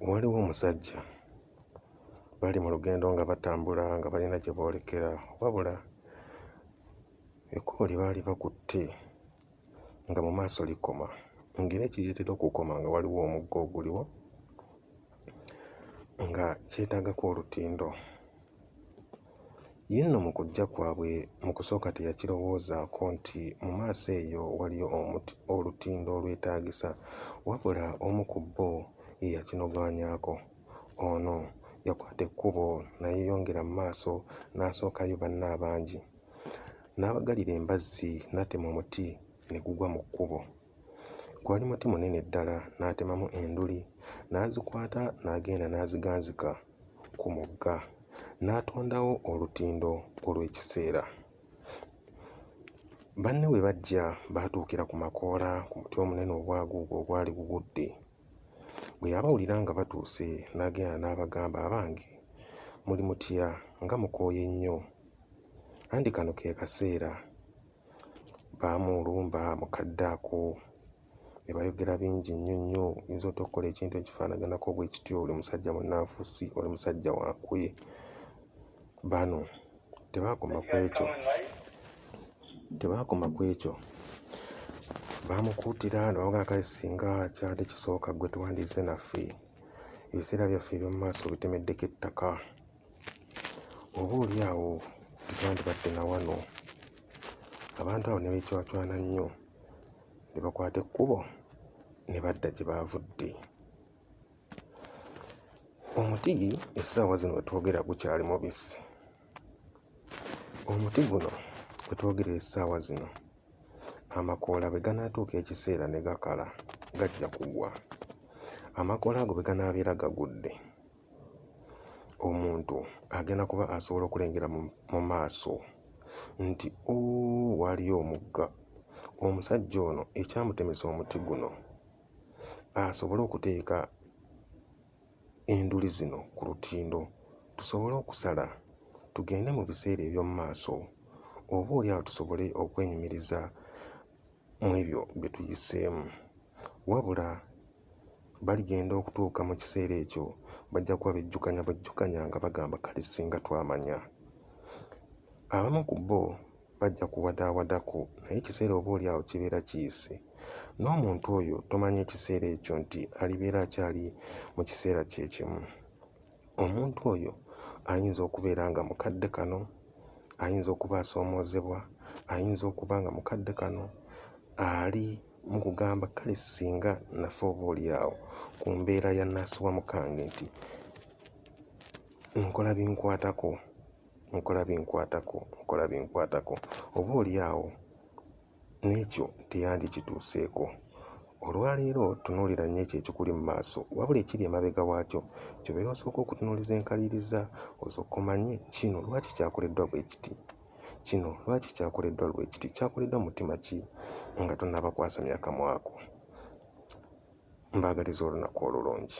Waliwo omusajja bali mu lugendo nga batambula nga balina gye boolekera wabula ekkubo lye baali bakutte nga mu maaso likoma ng'era ekireetera okukoma nga waliwo omugga oguliwo nga kyetaagako olutindo Ye nno mu kujja kwabwe mu kusooka teyakirowoozaako nti mu maaso eyo waliyo omuti olutindo olwetaagisa, wabula omu ku bo ye yakinogaanyaako. Ono yakwata ekkubo nayeyongera mu maaso n'asookayo banne abangi, n'abagalira embazzi n'atema omuti ne gugwa mu kkubo. Gwali muti munene ddala, n'atemamu enduli, n'azikwata n'agenda n'aziganzika ku mugga, n'atondawo olutindo olw'ekiseera. Banne bwe bajja, baatuukira ku makoola ku muti omunene ogwaguuga ogwali gugudde. Bwe yabawulira nga batuuse, n'agenda n'abagamba, Abange, muli mutya nga mukooye nnyo? Anti kano ke kaseera baamuwulumba mu kadde ako ne bayogera bingi nnyo nnyo oyinza ota okukola ekintu ekifaanaganako bwe kityo oli musajja munnanfusi oli musajja wankwe bano tebaakoma ku ekyo tebaakoma ku ekyo baamukuutira ne bamugaa kale singa kyali kisooka ggwe tuwandiise naffe ebiseera byaffe eby'omu maaso bitemeddeko ettaka oba oli awo tetwandibadde na wano abantu abo ne beecwacwana nnyo ne bakwata ekkubo ne badda gye baavudde omuti essaawa zino we twogera gukyali mubisi omuti guno we twogera essaawa zino amakoola bwe ganaatuuka ekiseera ne gakala gajja kugwa amakoola ago bwe ganaabeera gagudde omuntu agenda kuba asobola okulengera mu maaso nti o waaliyo omugga omusajja ono ekyamutemesa omuti guno asobole okuteeka enduli zino ku lutindo tusobole okusala tugende mu biseera eby'omu maaso oba oli awo tusobole okwenyumiriza mu ebyo bye tuyiseemu wabula baligenda okutuuka mu kiseera ekyo bajja kuba bejjukanya bwejjukanya nga bagamba kale singa twamanya abamu ku bo bajja kuwadaawadako naye ekiseera oba oli awo kibeera kiyise n'omuntu oyo tomanya ekiseera ekyo nti alibeera akyali mu kiseera kye kimu omuntu oyo ayinza okubeera nga mukadde kano ayinza okuba asoomoozebwa ayinza okuba nga mukadde kano ali mu kugamba kale singa nafa oba olyawo ku mbeera ya naasi wa mukange nti nkola binkwatako nkola binkwatako nkola binkwatako oba olyawo n'ekyo teyandikituuseeko olwaleero tunuulira nnyo ekyo ekikuli mu maaso wabula ekiri emabega waakyo kyobeera osooka okutunuuliza enkaliriza osooka omanye kino lwaki kyakoleddwa bwe kiti Kino lwaki kyakoleddwa lwe kiti? Kyakoleddwa mu mutima ki nga tonnaba kwasamya kamwa ko? Mbaagaliza olunaku olulungi.